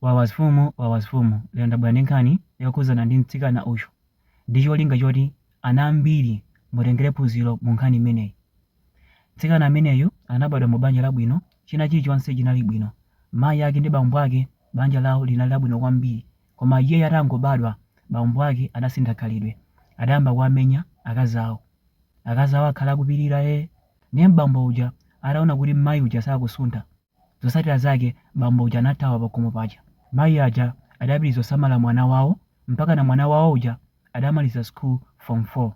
Wawa zfumu wawa zfumu lero ndabwera ndi nkhani yokhudzana ndi mtsikana uyu ndi cholinga choti ana ambiri mutengere phunziro mu nkhani imeneyi. Mtsikana ameneyu anabadwa mu banja labwino china chilichonse chinali bwino mayi ake ndi bambo ake banja lawo linali labwino kwambiri koma iyeyu atangobadwa bambo ake adasintha khalidwe adayamba kuwamenya akazi awo akazi awo akhala akupirira ee ndiye bambo uja ataona kuti mayi uja sakusuntha Zotsatira zake bambo uja anathawa pakhomo paja. Mayi aja adapitiriza kusamala mwana wawo mpakana mwana wawo uja adamaliza school form 4.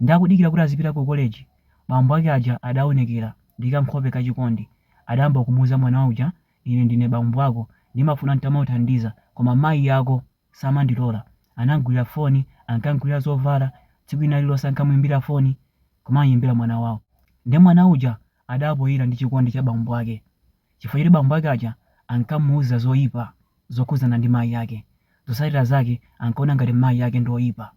Nde akudikira kuti azipita ku college bambo ake aja adaonekera ndi ka nkhope ka chikondi adayamba kumuuza mwana uja ine ndine bambo ako ndimafuna ntamakuthandiza koma mayi ako samandilola. Anam'gulira foni, ankam'gulira zovala, tsiku lina lililonse ankamuimbira foni, kumam'imbira mwana wawo. Nde mwana uja adapoira ndi chikondi cha bambo ake chifukwa choti bambo ake aja ankamuuza zoipa zokhudzana ndi mayi ake. Zotsatira zake ankaona ngati mayi ake ndi oipa.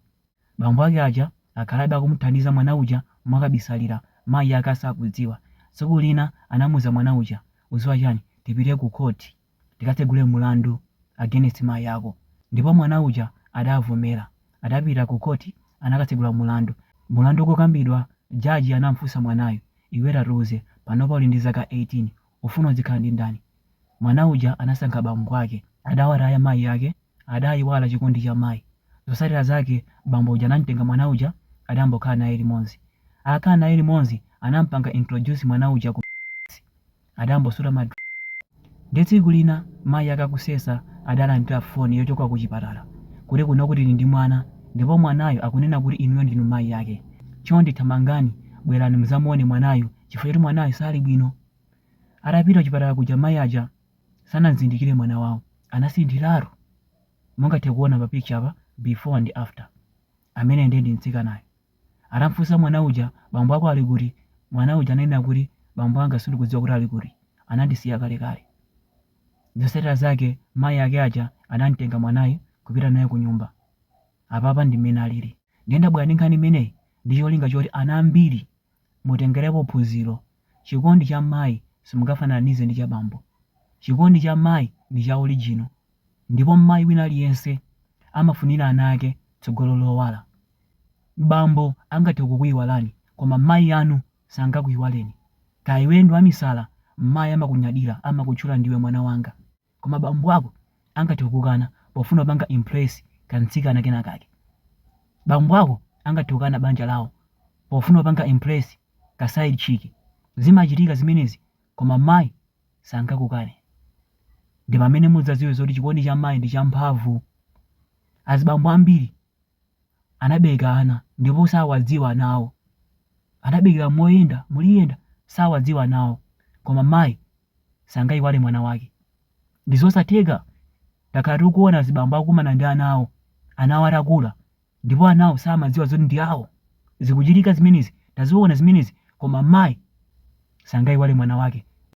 Bambo ake aja akhalabe akumuthandiza mwana uja mwakabisalira, mayi ake asakudziwa. Tsiku lina anamuuza mwana uja, Udziwa chani? Tipite ku khoti. tikatsegule mulandu against mayi ako ndipo mwana uja adavomera adapita ku court anakatsegula mulandu mulandu ukukambidwa judge anamfunsa mwanayu iwe tatiuze panopa uli ndi zaka 18 ufuna uzikhala ndi ndani mwana uja anasankha bambo ake adawataya mayi ake adayiwala chikondi cha mayi zotsatira zake bambo uja anamtenga mwana uja adayamba kukhala naye limodzi atakhala naye limodzi anampanga introduce mwana uja ku Adangosuta ma drip nde tsiku lina mayi ake akusesa adalandira phone yochoka kuchipatala kuti kuno kuli ndi mwana ndipo mwanayo akunena kuti inuyo ndinu mayi ake chonde thamangani bwerani mudzamuone mwanayu chifukwa choti mwanayu sali bwino. Atapita kuchipatala kuja mayi aja sanamzindikire mwana wawo anasinthiratu mungathe kuona pa picture apa before ndi after. Ameneyo ndiye ndi mtsikanayo. Atam'funsa mwana uja, Bambo ako ali kuti? mwana uja ananena kuti, Bambo anga sindikudziwa kuti ali kuti. Anandisiya kalekale. Zotsatira zake, mayi ake aja anam'tenga mwanayu kupita naye kunyumba. Apapa ndi mmene alili. Ndiye ndabwera ndi nkhani imeneyi ndi cholinga choti ana ambiri Mutengerepo phunziro. Chikondi cha mayi simungafananize ndi cha bambo. Chikondi cha mayi ndi cha original. Ndipo mayi wina aliyense amafunira ana ake tsogolo lowala. Bambo angathe kukuiwalani koma mayi anu sangakuiwaleni. Kaya iwe ndi wamisala, mayi amakunyadira, amakutchula ndiwe mwana wanga. Koma bambo ako angathe kukukana pofuna kupanga impress ka mtsikana kena kake. Bambo ako angathe kukana banja lawo pofuna kupanga impress ka side chick. Zimachitika zimenezi koma mayi sangakukane. Ndipamene mudzaziwe zoti chikondi cha mayi ndi champhamvu. Azibambo ambiri. anabereka ana ndipo sawadziwa anawo, anaberekera moyenda muliyenda sawadziwa anawo, koma mayi sangayiwale mwana wake. Ndi zosatheka, takhala tikuona azibambo akukumana ndi ana awo, ana awo atakula ndipo anawo samadziwa zoti ndi awo. Zikuchitika zimenezi, taziona zimenezi koma mayi sangayiwale mwana wake.